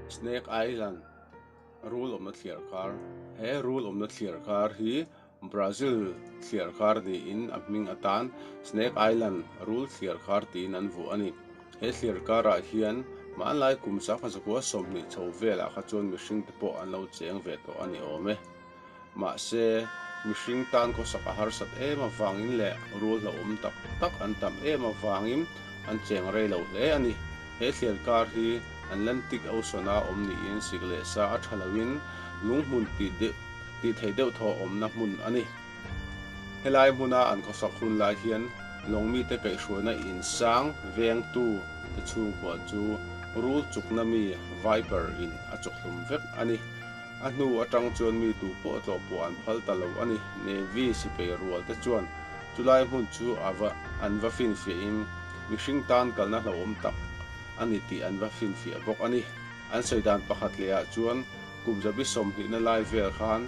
Snake Island rul awmna thliar kar he rul awmna thliar kar hi Brazil thliar kar niin a hming atan Snake Island rul thliar kar tiin an vuah a ni he thliar karah hian hmanlai kum sakhaw zakua sawmhnih chho velah kha chuan mihringte pawh an lo cheng ve tawh a ni awm e. Mahse, mihring tan khawsak a harsat em avangin leh rual hlauhawm tak tak an tam em avangin an cheng rei lo hle a ni. He thlian kar hi Atlantic Ocean-a awm niin sik leh sa a tha loin lung hmun tih theih deuh thawh awmna hmun a ni. Helai hmuna an khawsak hun lai hian lawng mite kaihhruaina insang vengtu te chhungkua chu rul chukna mi viper in a chawkhlum vek a ni. A hnu atang chuan mi duh pawh a tlawh pawh an phal ta lo a ni. Navy sipai rual te chuan chu lai hmun chu a va an va finfiah in mihring tan kalna hlauhawm tak a ni tih an va finfiah bawk a ni. An sawi dan pakhat leh ah chuan kum zabi sawm hnihna lai vel khan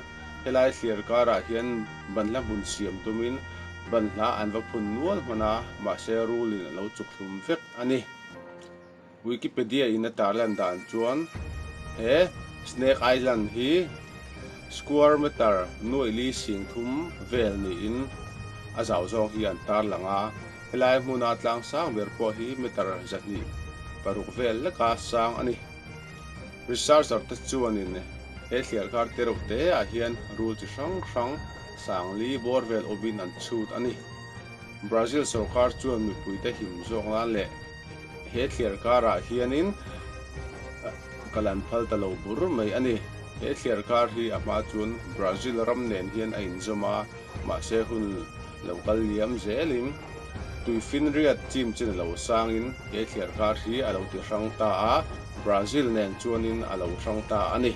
helai thliar kar ah hian ban hla hmun siam tum in ban hla an va phun nual hman a, mahse rule in a lo chuk thlum vek a ni. Wikipedia in a tarlan dan chuan he Snake Island hi square metre nuaihli sing thum vel niin a zau zawng hi an tarlang a, helai hmuna tlang sang ber pawh hi metre zahnih paruk vel leka sang a ni. Researcher te chuanin he thliarkar tereuh te ah hian rul chi hrang hrang sangli bawr vel awmin an chhut a ni. Brazil sorkar chuan mipuite him zawk nan leh, He thliar karah hianin ka lan phal ta lo bur mai a ni. He thliar kar hi a hma chuan Brazil ram nen hian a inzawm a, mahse hun lo kal liam zelin tui finriat chim chin a lo sangin he thliar kar hi a lo ti hrang ta a, Brazil nen chuanin a lo hrang ta a ni.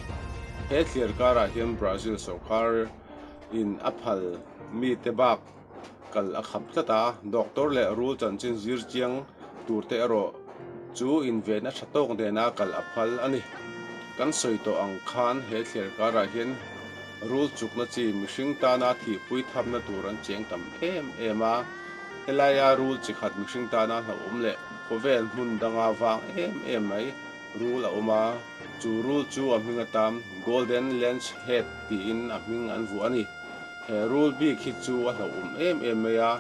He thliar karah hian Brazil sawrkar in a phal mite bak. kal a kham tlat a, doctor leh rul chanchin zir chiang tur te erawh chu invenna tha tawk nena kal a phal a ni. Kan sawi tawh ang khan he thler karah hian rul chukna chi mihring tana thihpui thapna tur an cheng tam em em a, helaia rul chi khat mihring tana hlauhawm leh khawvel hmun danga vang em em mai rul a awm a, chu rul chu a hming atam Golden Lens Head tiin a hming an vuah a ni. He rule bik hi chu a hlauhawm em em mai a,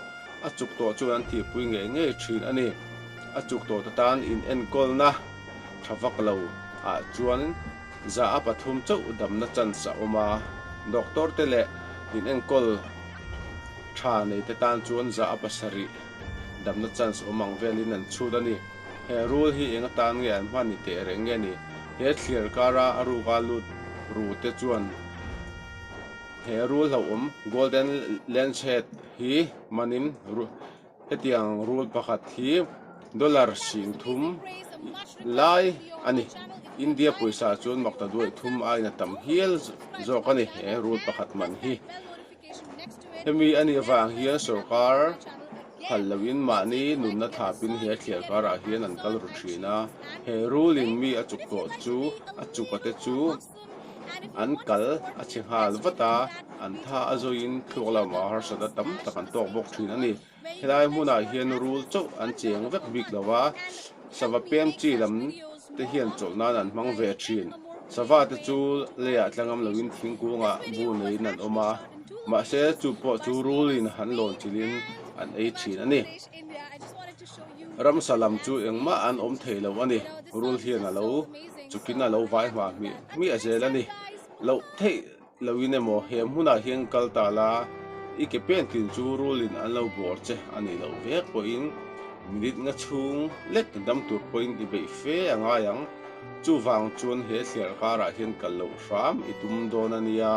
a chuk tawh chuan an tihpui ngei ngei thin a ni. A chuk tawh te tan inenkawnna tha vak lo ah chuan zah a pathum chauh damna chance a awm a. Doctor te leh inenkawl tha nei te tan chuan zah a pasarih damna chance awm ang velin an chhut a ni. He rule hi eng atan nge an hman ni teh reng nge ni? He thliar kara a ruka lut ru te chuan. He rul hlauhawm Golden Lancet hi hmanin hetiang rul pakhat hi dollar sing thum lai a ni. India pawisa chuan makta duai thum aina tam hial zawk a ni he rul pakhat hman hi. Hemi a nih avang hian sorkar phal loin mahni nunna thlapin he thliar karah hian an kal ru thin a. He rulin mi a chuk tawh chu a chuka te chu. an kal a chhe nghal vat a an tha a zawiin thluak lamah harsat a tam tak an tawk bawk thin a ni helai hmunah hian rul chauh an cheng vek bik lo va sava pemchi lam te hian chawlh nan an hmang ve thin sava te chu lei ah tla ngam lovin thingkungah bu neiin an awm a mahse chu pawh chu rulin han lawn chilhin an ei thin a ni. Ramsa lam chu engmah an awm thei lo a ni. Rul hian a lo chukin a lo vai hma hmih hmiah zel a ni. Loh theih loin emaw he hmunah hian kal ta la, i ke pen tin chu Rulin an lo bawr che a nih loh vek pawhin minute nga chhung lek dam tur pawhin i beih fe a ngai ang. Chuvang chuan he thliar karah hian kal loh hram i tum dawn a nia.